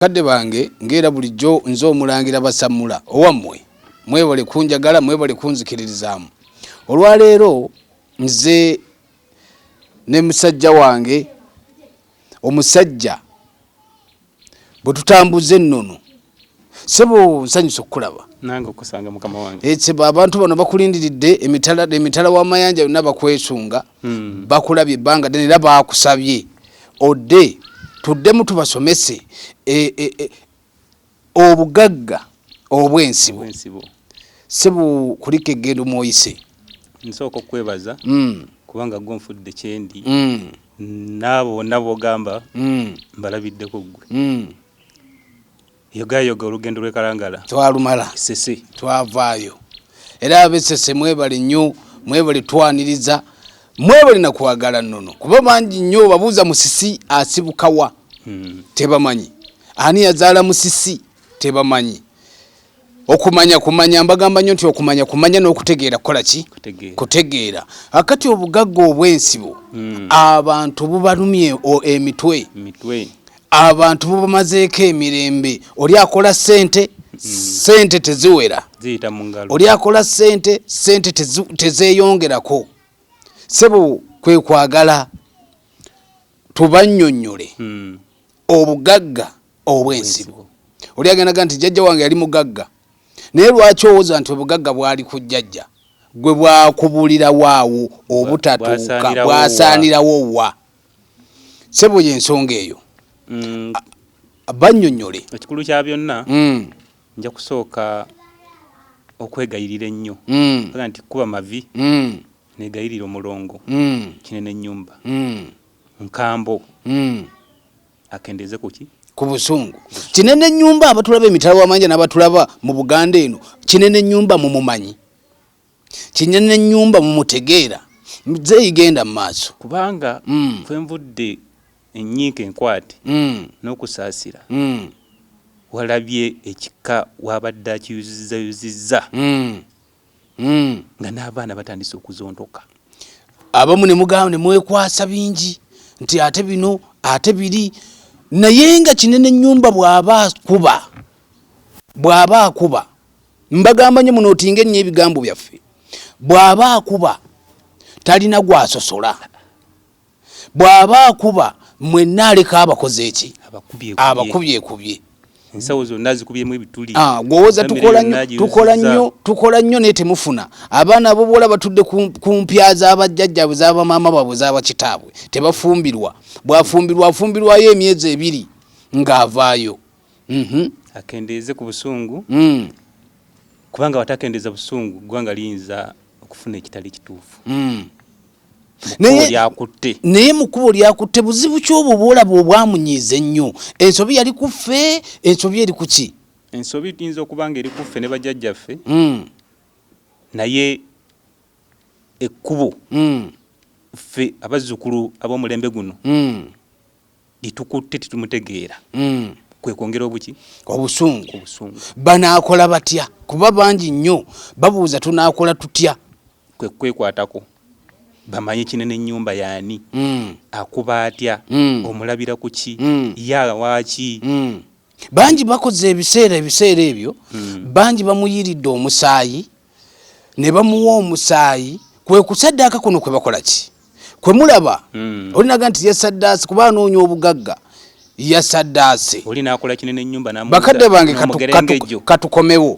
Bakadde bange nga era bulijjo nze Omulangira Basammula owammwe, mwebale kunjagala, mwebale kunzikiririzaamu. Olwaleero nze ne musajja wange omusajja bwe tutambuza ennono sebo nsanyusa okukulaba nange okusanga mukama wange abantu bano bakulindiridde emitala emitala w'amayanja yonna bakwesunga hmm. bakulabye ebbanga ddene era baakusabye odde tuddemu tubasomese e, e, e, obugagga obw'ensibo si bu kulika eggendo mwoyise nsooka okukwebaza hmm. kubanga gwe nfudde kyendi hmm. naabo bonna bogamba mbalabiddeko ggwe Yogayoga olugendo lw'e Kalangala twalumala Ssese, twavaayo era ab'e Ssese mwebale nnyo, mwebale twaniriza, mwebale na kwagala nnono kuba bangi nnyo babuuza Musisi asibuka wa hmm. tebamanyi, ani yazaala Musisi tebamanyi. Okumanya kumanya mbagamba nnyo nti okumanya kumanya n'okutegeera kukola ki kutegeera. Akati obugagga obw'ensibo hmm. abantu bubalumye emitwe. abantu bubamazeeko emirembe oli akola sente sente teziwera oli akola sente sente tezeyongerako sebo kwekwagala tubanyonyole hmm. obugagga obwensibo oli agendaga nti jajja wange yali mugagga naye lwaki owoza nti obugagga bwali ku jajja gwe bwakubulira waawo obutatuuka bwasaanirawo wa sebo yensonga eyo mm. banyonyole ekikulu kya byonna mm. nja kusooka okwegayirira ennyo mm. aga nti kuba mavi mm. negayirira omulongo mm. kinene enyumba mm. nkambo mm. akendeeze kuki ku busungu kinene nyumba abatulaba emitala wamanja nabatulaba mu buganda eno kinene nyumba mumumanyi kinyana enyumba mumutegeera mzeeyi genda mumaaso kubanga mm. kwenvudde enyiika enkwate mm. n'okusaasira mm. walabye ekika wabadde akiyuzizayuzizza mm. mm. nga n'abaana batandise okuzontoka abamu nemugamba nemwekwasa bingi nti ate bino ate biri naye nga kinene nyumba bwaba akuba bwaba akuba Mbagamba nnyo munootinga ennyo ebigambo byaffe. Bw'aba akuba talina gwasosola, bw'aba akuba mwenna aleka abakoze eki abakubyekubye ensawo zonna zikubyemu ebituli ah, gwowoza tukola nnyo tukola nnyo naye temufuna abaana abobuwala batudde ku mpya zabajjajjabwe zabamaama baabwe zabakitaabwe tebafumbirwa bwafumbirwa afumbirwayo emyezi ebiri ng'avaayo mhm. akendeeze ku busungu mm. kubanga watakendeeza busungu ggwanga liyinza okufuna ekitali kituufu mm. lyakutte naye mukubo lyakutte buzibu kyobwo bwolaba obwamunyiiza ennyo ensobi yali kuffe ensobi eri kuki ensobi tuyinza okuba nga eri kuffe ne bajjajjaffe mm. naye ekkubo mm. ffe abazzukulu ab'omulembe guno mm. litukutte tetumutegeera mm. kwekwongera obuki obusungu obusungu banaakola batya kuba bangi nnyo babuuza tunaakola tutya kwekwekwatako bamanye kinene ennyumba yaani mm. akuba atya mm. omulabira ku ki mm. yaala waaki mm. bangi bakoze ebiseera ebiseera ebyo mm. bangi bamuyiridde omusaayi ne bamuwa omusaayi kwe kusaddaaka kuno kwe bakola ki kwe mulaba mm. olinaga nti yasaddaase kuba anoonya obugagga yasaddaase bakadde bange katukomewo